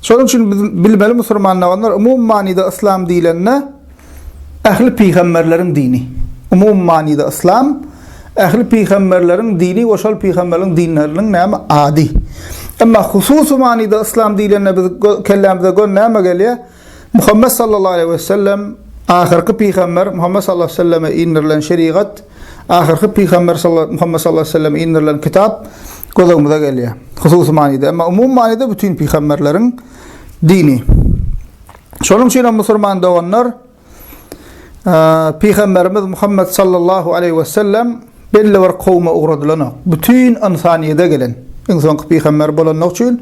Şonuň üçin biz bilmeli musulman doganlar umumy manyda yslam diýlende ähli pygamberleriň dini. Umumy manyda yslam ähli pygamberleriň dini we şol pygamberleriň dinleriniň näme ady. Emma hususy manyda yslam diýlende biz kellämize gön näme gelýär? Muhammet sallallahu aleýhi we sellem, ahyrky pygamber Muhammet sallallahu aleýhi we selleme indirilen şerigat, ahyrky pygamber Muhammet sallallahu aleýhi we selleme indirilen kitap göz öňümize gelýär. Hususy manyda, emma umumy manyda bütin pygamberleriň dini. Şonuň üçin hem musulman doganlar, pygamberimiz Muhammet sallallahu aleýhi we sellem Belli bir kowuma ugradylanok. Bütin ynsanyýete gelen. Iň soňky pygamber bolanlygy üçin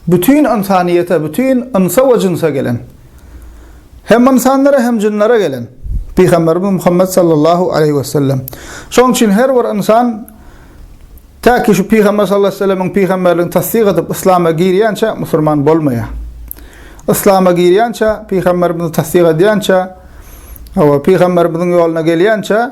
bütin ynsanyýete, bütin ynsa we jynsa gelen. Hem ynsanlara hem jynlara gelen. Pygamberimiz Muhammet sallallahu aleýhi we sellem. Şonuň üçin her bir ynsan täki şu pygamber sallallahu aleýhi we sellemiň pygamberligini tassyk edip yslama girýänçä musurman bolmaýar. Yslama girýänçä pygamberimizi tassyk edýänçä we pygamberimiziň ýoluna gelýänçä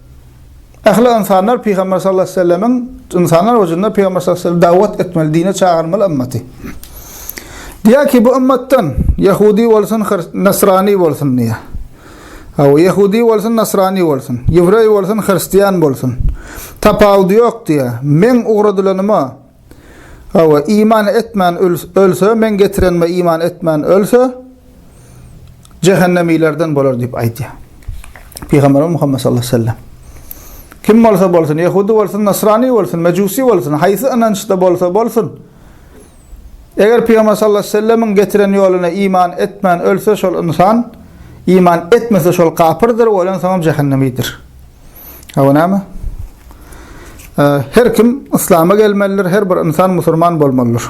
Ähli ynsanlar Pygamber sallallahu aleýhi we sellemiň ynsanlar hujunda Pygamber sallallahu aleýhi we sellem dawat etmeli, dine çagyrmaly ymmaty. Diýýär ki, bu ymmatdan ýahudi bolsun, nasrani bolsun diýýär. Hawa, ýahudi bolsun, nasrani bolsun, ýewreý bolsun, hristiýan bolsun. Tapawudy ýok diýýär. Meň ugradylanyma Hawa, iman etmän ölse, Meň getirenime iman etmän ölse, jähennemilerden bolar diýip aýdýar. Pygamberimiz Muhammed sallallahu aleyhi ve sellem. Kim bolsa bolsun, Yahudi bolsun, Nasrani bolsun, Mecusi bolsun, haýsy ynançda bolsa bolsun, eger Pygamber sallallahu aleyhi ve sellemin getiren ýoluna iman etmän ölse şol ynsan, iman etmese şol kapyrdyr, oýlan soňam jahannemidir. Hawa näme? Her kim yslama gelmelidir, her bir ynsan musulman bolmalydyr.